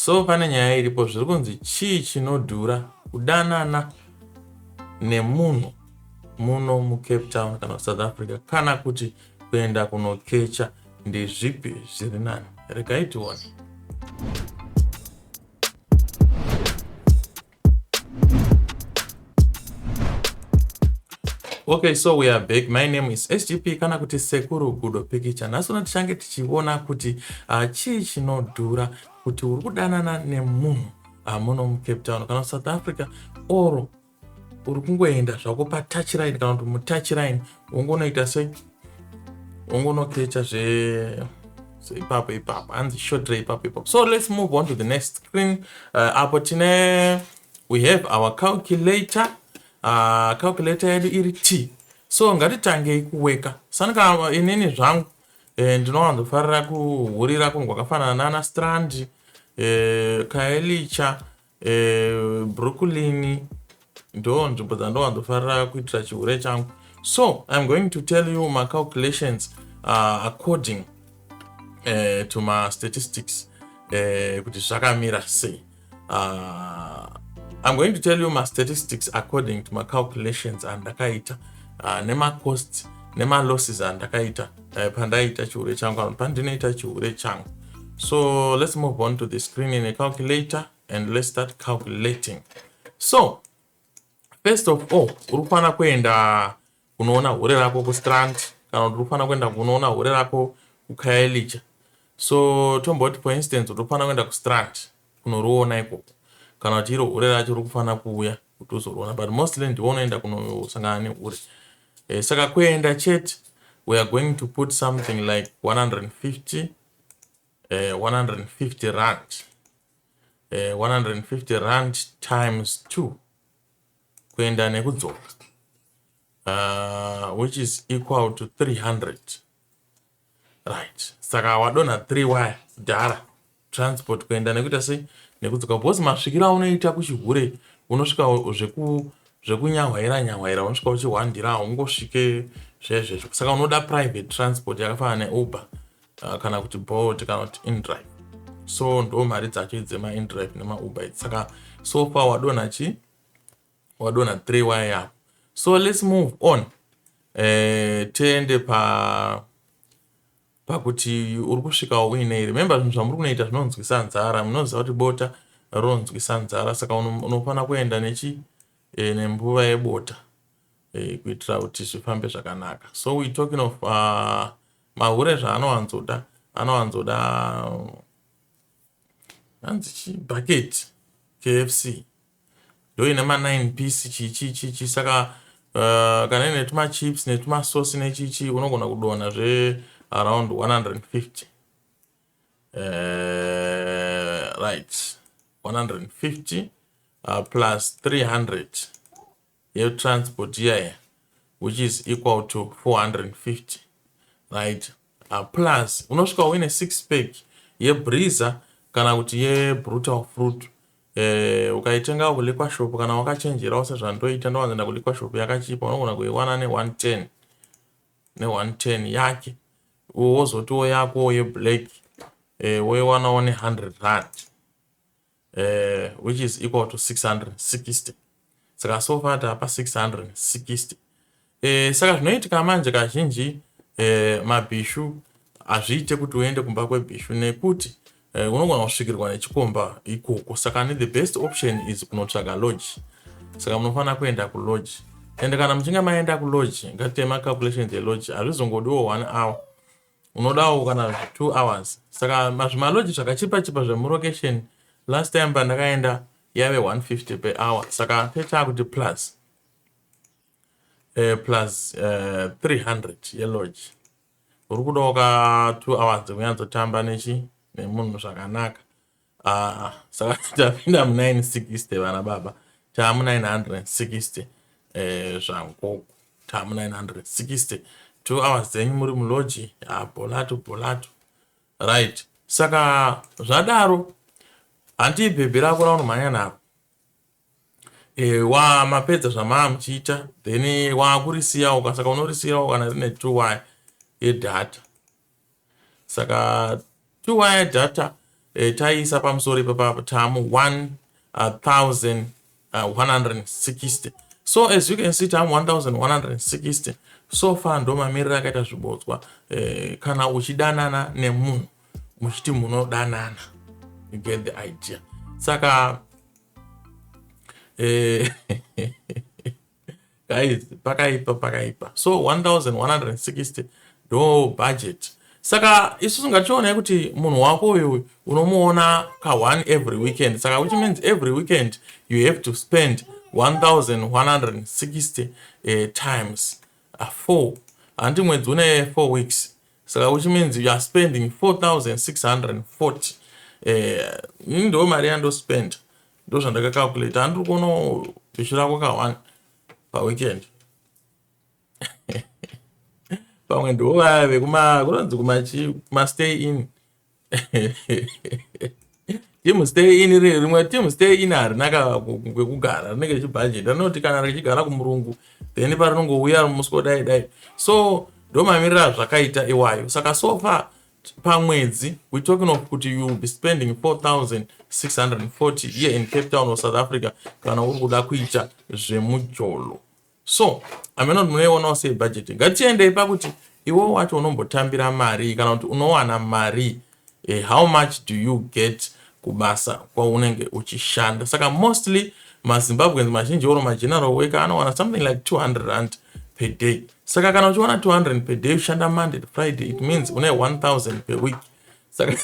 So pane nyaya iripo zviri kunzi chii chinodhura kudanana nemunhu muno mucape town kana kusouth africa kana kuti kuenda kunokecha ndezvipi zviri nani regai tione Okay, so we are back. My name is SGP kana kuti Sekuru Gudo Pikicha. Nhasi uno tichange tichiona kuti uh, chii chinodhura kuti uri kudanana nemunhu uh, muno muCape Town kana South Africa or uri kungoenda zvako patouch line kana kuti mutouch line wongonoita se ungonokecha zve so ipapo ipapo hanzi shotre ipapo ipapo so let's move on to the next screen uh, apo tine we have our calculator uh, calculator yedu iri t so ngatitangei kuweka sanika uh, inini zvangu eh, ndinowanzofarira kuhurira kunhu kwakafanana nana strand eh, kaelicha uh, brooklyn ndo nzvimbo dzandowanzofarira kuitira chihure changu so iam going to tell you macalculations uh, according uh, to mastatistics uh, kuti zvakamira sei uh, iam going to tell you mastatistics according to macalculations andakaita uh, nemacosts nemalosses andakaita uh, pandaiita chihure changu ano pandinoita chihure changu so let's move on to the screen in a calculator and let's start calculating so first of all uri kufanira kuenda kunoona hure rako kustrand kana kuti uri kufanira kuenda kunoona hure rako kukaelicha so tomboti for instance uri kufanira kuenda kustrand kunoriona ikoko kana kuti iro hure racho uri kufanira kuuya kuti uzorona but mostly ndiwo unoenda kunosangana nehure eh, saka kuenda chete we are going to put something like 150 eh, 150 rand eh, 150 rand times 2 kuenda nekudzoka uh, which is equal to 300 right saka wadonha 3 waya kudhara transport kuenda nekuita sei nekudzoka because masvikiro aunoita kuchihure unosvika zveku zvekunyahwaira nyahwaira unosvika uchihwandira haungosvike zvezvezvo saka unoda private transport yakafanana neuber uh, kana kuti bolt kana kuti indrive so ndo mari dzacho idzemaindrive nemauber saka so far wadonha chii wadonha three waya yako so let's move on eh, tiende pa pakuti uri kusvikawo uinei remember zvinhu zvamuri kunoita zvinonzwisa nzara munoziva kuti bota ronzwisa nzara saka unofanira kuenda nechi eh, nembuva yebota eh, kuitira kuti zvifambe zvakanaka so we talking of uh, mahure zvaanowanzoda anowanzoda hanzi chi bucket kfc ndoine ma 9 piece chii chii chii chii saka uh, kana ine tuma chips netuma sauce nechii chii unogona kudonha zve around 150 uh, right 150 uh, plus 300 yetransport iya iya which is equal to 450 right uh, plus unosvika uine six pack yebriza kana kuti yebrutal fruit eh, ukaitenga kuliqua shop kana wakachenjerawo sezvandoita ndowanzoenda kuliqua shop yakachipa unogona kuiwana ne110 ne110 yake wozotiwo yakowo yeblack eh, woiwanawo ne100 rand uh, which is equal to 660 saka so far tapa 660 eh, saka zvinoitika manje kazhinji eh, mabhishu hazviite kuti uende kumba kwebhishu nekuti eh, unogona kusvikirwa nechikomba ikoko saka ne the best option is kunotsvaga lodge saka munofanira kuenda kulodge and kana muchinge maenda kulodge ngatite macalculations elodge hazvizongodiwo one hour unodawo kana two hours saka mazvimaloji zvakachipa chipa zvemulocation last time pandakaenda yave 150 per hour saka tetaa kuti plus uh, plus uh, eh, 300 yeloji uri kudawo ka two hours dzekunyatso tamba nechi nemunhu zvakanaka Ah, saka tapinda mu 960 vana baba taamu 960 eh, zvangogo taamu 960 two hours dzenyu muri muloji ah, bolato bolato right saka zvadaro hanti ibhebhi rako raunomhanya naro e, eh, wa mapedza zvamaa muchiita then wakurisiyawo ka saka unorisiyirawo kana rine two y yedata saka two wire data eh, taiisa pamusoro ipapa tamu 1160 uh, so as you can see tamu 1160 so far ndo mamiriro akaita zvibodzwa eh, kana uchidanana nemunhu muchiti munodanana you get the idea saka eh, guys pakaipa pakaipa so 1160 ndo budget saka isu tingachionai kuti munhu wako uyu unomuona ka one every weekend saka which means every weekend you have to spend 1160 uh, eh, times uh, four handi mwedzi une four weeks saka which means you are spending 4640 uh, eh, ndo mari yandospend ndozvandaka calculate andiri kuona bishi rako ka one paweekend pamwe ndivo vaya vekuma kunonzi kumachi kumastay in team stay in iri rimwe team stay in harina kwekugara rinenge richibhajeta rinoti kana richigara kumurungu then parinongouya musi kudai dai so ndomamirira zvakaita iwayo saka so far pamwedzi we talking of kuti you will be spending 4640 here in cape town or south africa kana uri kuda kuita zvemujolo so amene kuti munoionawo sei budget ngatiendei pakuti iwo wacho unombotambira mari kana kuti unowana mari eh, how much do you get kubasa kwaunenge uchishanda saka mostly mazimbabweans mazhinji oro mageneral worker anowana something like 200 rand per day saka kana uchiwana 200 per day ushanda monday to friday it means une 1000 per week saka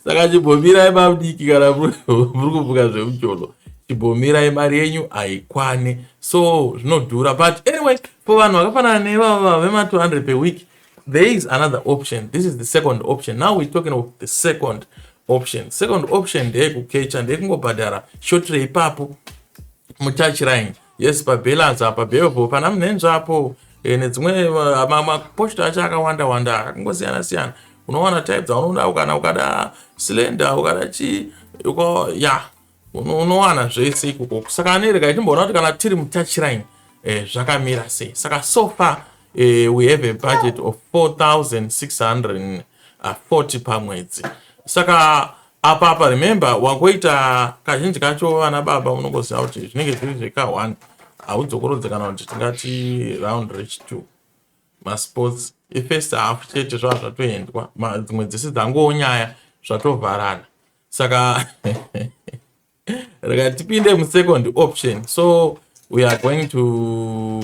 saka chibhomirai mabdiki kana muri kuvuka zvemucholo chibhomirai mari yenyu haikwane so zvinodhura but anyway for vanhu vakafanana nevava vema 200 per week there is another option this is the second option now we're talking of the second option second option ndeyekukecha ndeyekungobhadhara shotrei ipapo mutouch line yes pabalance apa bevo pana munhenzva apo eh, nedzimwe eh, maposta acho akawanda wanda akangosiyana siyana unowana type dzaunoda kana ukada slender ukada chii uko ya unowana zvese ikoko saka anereka itimboona kuti kana tiri mutouch line eh, zvakamira sei saka so far eh, we have a budget of 4640 uh, pamwedzi saka Apa apa remember wangoita kazhinji kacho vana baba unongoziva kuti zvinenge zviri zveka one haudzokorodze kana kuti tingati round rich two masports ifirst half chete zvava zvatoendwa dzimwe dzese dzangowo nyaya zvatovharana saka rikatipinde musecond option so we are going to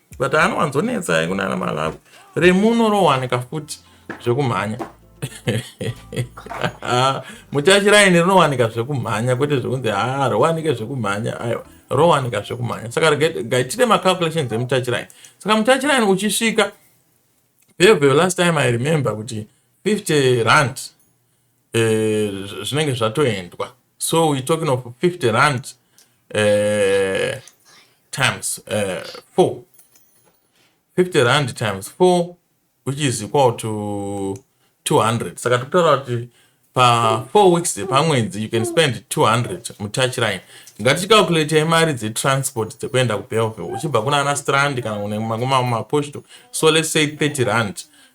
but anowanzonetsa kunana malawi remuno rowanika futi zvekumhanya muchachiraini rinowanika zvekumhanya kwete zvekunzi ha rowanike zvekumhanya aiwa rowanika zvekumhanya saka gaitite macalculations emuchachiraini saka muchachiraini uchisvika bhebhe last time i remember kuti 50 rand uh, zvinenge zvatoendwa so we talking of 50 rand uh, times uh, four 50 rand times four which is equal to 200 saka tikutaura kuti pa four weeks pamwedzi you can spend 200 mutouch line ngatichicalculatea imari dzetransport dzekuenda kubelville uchibva kuna ana strand kana kunemaposto so let's say 30 rand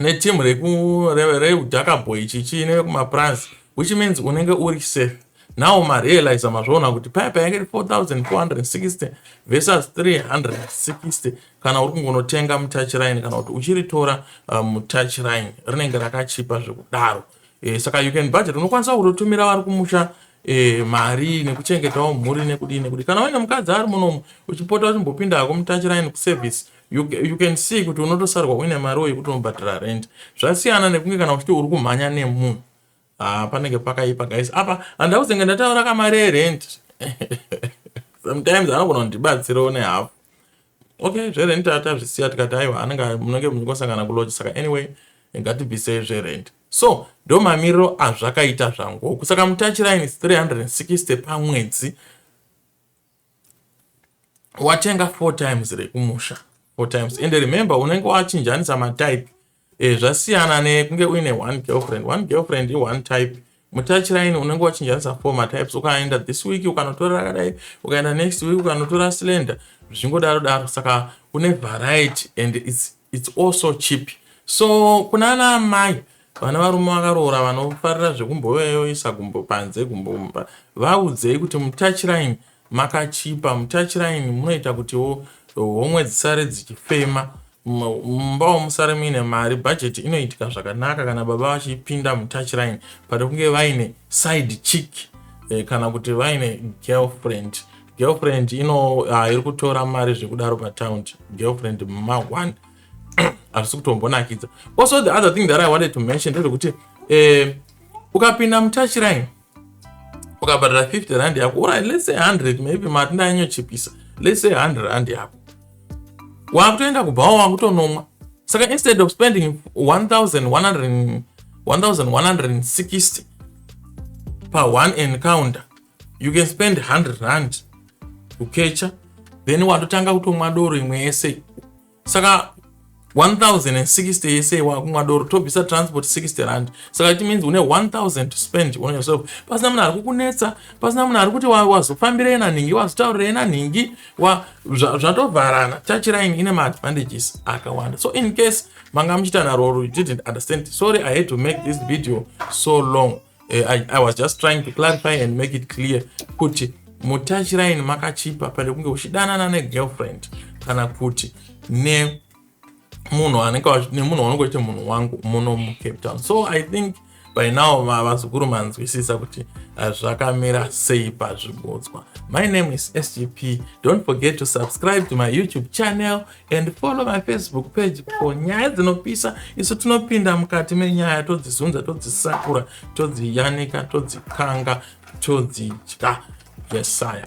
neteam reku reudhaka boy chichi nevekumaprans which means unenge uri safe now marealiza mazvaona kuti paya paya iri 4460 versus 360 kana uri kungonotenga mutouch line kana kuti uchiritora uh, mutouch line rinenge rakachipa zvekudaro e, saka you can budget unokwanisa kutotumira vari kumusha e, mari nekuchengetawo mhuri nekudii nekudii kana uine mukadzi ari munomu uchipota uchimbopinda hako mutouch line kuservice you, you can see kuti unotosarwa uine mari uye kuti unobhadhara rent zvasiyana nekunge kana uchiti uri kumhanya nemunhu ah, panenge pakaipa guys apa handau zenge ndataura kamari yerent sometimes anogona kundibatsirawo nehafu okay zverent atazvisiya tikati aiwa anenge munenge muchikosangana kuloji saka anyway ngatibvisei zverent so ndo mamiriro azvakaita zvangoku saka mutachiraini 360 pamwedzi watenga four times re kumusha four times and remember unenge wachinjanisa matype e, zvasiyana nekunge uine one girlfriend one girlfriend ione type mutachiraini unenge wachinjanisa four matypes ukaenda this week ukanotora rakadai ukaenda next week ukanotora slender zvichingodaro daro saka une variety and its It's also cheap. So kuna ana amai vana varume vakaroora vanofarira zvekumboyoisa gumbo panze gumbo mumba vaudzei kuti mutouchline makachipa mutouchline munoita kutiwo homwe dzisare dzichifema mumbawo musare muine mari bhajeti inoitika zvakanaka kana baba vachipinda mutouchline pane kunge vaine side chick eh, kana kuti vaine girlfriend girlfriend ino uh, iri kutora mari zvekudaro patown girlfriend ma one hazvisi kutombonakidza also the other thing that i wanted to mention ndezvekuti eh, ukapinda mutachiraini ukabhadhara 50 rand yako uri let's say 100 maybe mati ndainyochipisa let's say 100 rand yako wakutoenda kubhawa wakutonomwa saka instead of spending 1160 pa one encounter you can spend 100 rand kukecha then watotanga kutomwa doro imwe yese saka 1060 yese wakumwa doro tobvisa transport 60 rand saka it means une 1000 to spend on yourself pasina munhu ari kukunetsa pasina munhu ari kuti wazofambirei nanhingi wazotaurirei nanhingi zvatovharana wa, chachiraini ine maadvantages akawanda so in case manga muchiita naro or you didn't understand sorry i had to make this video so long eh, I, i was just trying to clarify and make it clear kuti mutachiraini makachipa pane kunge uchidanana negirlfriend kana kuti ne munhu anenge nemunhu wanenge uchiita munhu wangu muno mucape town so i think by now vazukuru manzwisisa kuti uh, zvakamira sei pazvibodzwa my name is sgp don't forget to subscribe to my youtube channel and follow my facebook page for nyaya dzinopisa isu tinopinda mukati menyaya todzizunza todzisakura todziyanika todzikanga todzidya yesaya